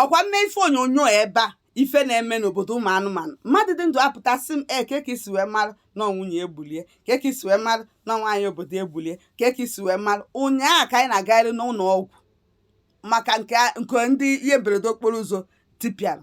ọkwa mme ife onyonyo ebe a ife na-eme n'obodo ụmụ anụmanụ mmadụ dị ndụ apụta sị m ee kee ka i si wee mara na ọ nwunye egbulie kee ka i si wee mara na nwaanyị obodo egbulie kee ka i si wee mara ụnyaahụ ka anyị na-agagharị n'ụlọ ọgwụ maka nke a- nke ndị ihe mberede okporo ụzọ tipịara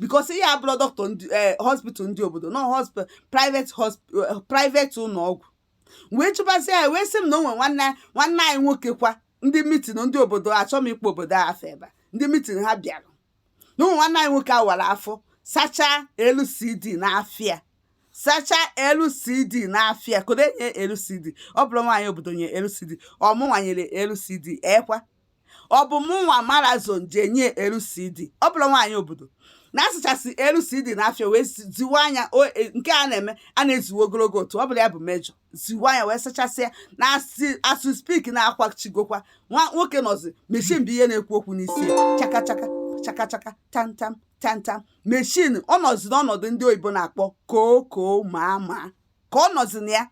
because ihe abụrọ dọkịta ndị eh, hospital ndị obodo na ọ hospital private hospital eh, private ụlọ ọgwụ wee jụbazie ya wee sị m na o nwere nwanne nwanne anyị nwoke kwa ndị mitin ndị obodo achọ m ịkpọ obodo a afa ebe a. ndị mitin ha bịara na o nwe nwanne anyị nwoke a wara afọ sachaa acid n'afọ ya sachaa acid n'afọ ya kedu onye nye acid ọ bụrọ nwaanyị obodo nye acid ọ mụnwa nyere acid ekwa ọ bụ mụ nwa mara ụzọ ji enye acid ọ bụrọ nwaanyị obodo na asachasị acid n'afọ ya wee ziwe anya e, nke a na-eme a na-eziwe ogologo otu ọ bụla ya bụ major ziwe anya wee sachasịa na as we speak na akwachigokwa nwa nwoke nọzi machine bụ ihe na-ekwu okwu n'isi chakachaka chakachaka tantam tantam machine ọ nọzi n'ọnọdụ ndị oyibo na-akpọ koo koo maa maa ka ọ nọzi na ya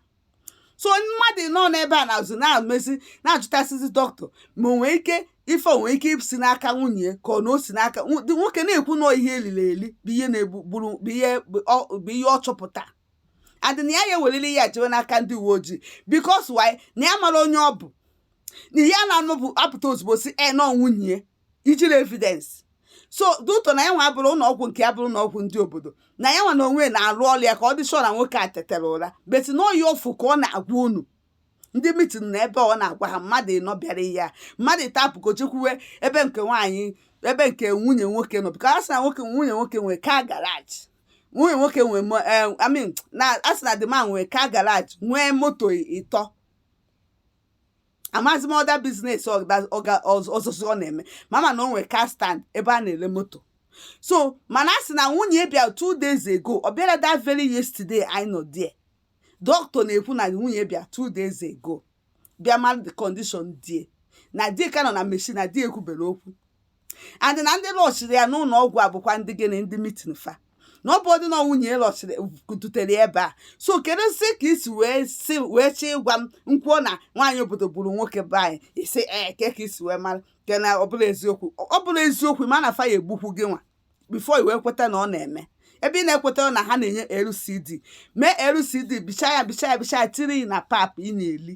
so mmadụ nọ n'ebe a na-azụ na-amezi na-ajụtasịzi dọkịta ma o nwee ike ife nwee ike si n'aka nwunye ka ọ na o si n'aka nwoke na-ekwu na ihe eliri eli bụ ihe na-egburu bụ ihe ọ chọpụtara dị na ya ya ewelili ya jewe n'aka ndị uwe ojii because why na ya mara onye ọ bụ na ihe a na-anụ bụ apụta ozugbo sị e eh, na ọ nwunye ijiri evidence so doctor na ya nwa abụrọ ụlọ ọgwụ nke ya abụrọ ụlọ ọgwụ ndị obodo na ya nwa na onwe na-arụ ọrụ ya ka ọ dị sure na nwoke a tetara ụra but na ọ ihe ọ fụ ka ọ na-agwa unu ndị mitin na ebe ọ na-agwa ha mmadụ ịnọ bịara ya mmadụ ịtọ apụkọ jekwuwe ebe nke nwaanyị ebe nke nwunye nwoke nọ because a sị na nwoke nwunye nwoke nwere car garage nwunye nwoke nwee mo- eh, I mean, na a sị na the man nwee car garage nwee moto ịtọ amazi m other business ọzọzi ọ na-eme ma ma na o nwere car stand ebe a na-ele moto so mana a sị na nwunye bịa two days ago ọ bịara that very yesterday anyị nọ there dọkịta na-ekwu na nwunye bịa two days ago bịa mara the condition di e na di e ka nọ na machine na di e ekwuberọ okwu and na ndị rushiri ya n'ụlọ ọgwụ a bụkwa ndị gịnị ndị mitin fa na ọ bụrọdị na nwunye rushiri dutere ya ebe a so keduzi ka i si wee si wee chọọ ịgwa m m kwuo na nwaanyị obodo gburu nwoke be anyị ị sị ee kee ka i si wee mara ke na ọ bụrọ eziokwu ọ bụrọ eziokwu mana fa ya-egbukwu gị nwa before i wee kweta na ọ na-eme ebe ị na-ekweta na ha na-enye acid mee acid bicha ya bicha ya bicha ya tiri na pap ị na-eli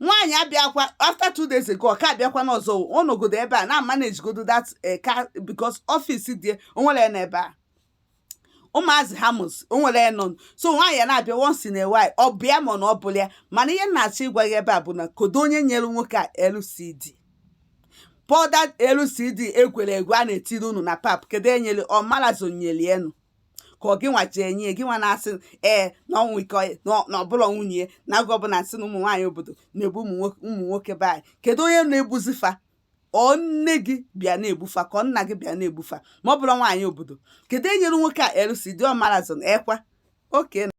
nwaanyị abịakwa after two days ago ọ ka abịakwa n'ọzọ ọ nọgodo ebe a na-amanejigodo that eh, ka because office dị onwere ya n'ebe a ụmụazị ha mụzi onwere ya nọ so nwaanyị ya na-abịa once in a while ọ bịa ma na ọ bụla ya mana ihe m na-achọ ịgwa gị ebe a bụ na kedu onye nyere nwoke a LCD powder LCD egwere egwe a na-etiri unu na pap kedu onye nyere ọ marazo nyere enu ka ọ gịnwa ji enye gịnwa na-asị ee na ọnwụ ike ọ- na ọ- na ọbụla nwunye ya na agụ ọbụla nsị na ụmụ nwaanyị obodo na-egbu ụmụ nwoke- ụmụ nwoke be anyị kedu onye na-egbuzi fa ọ nne gị bịa na-egbufa ka ọ nna gị bịa na-egbufa ma ọ bụrọ nwaanyị obodo kedu onye nyere nwoke a LCD ọmarazon ekwa oke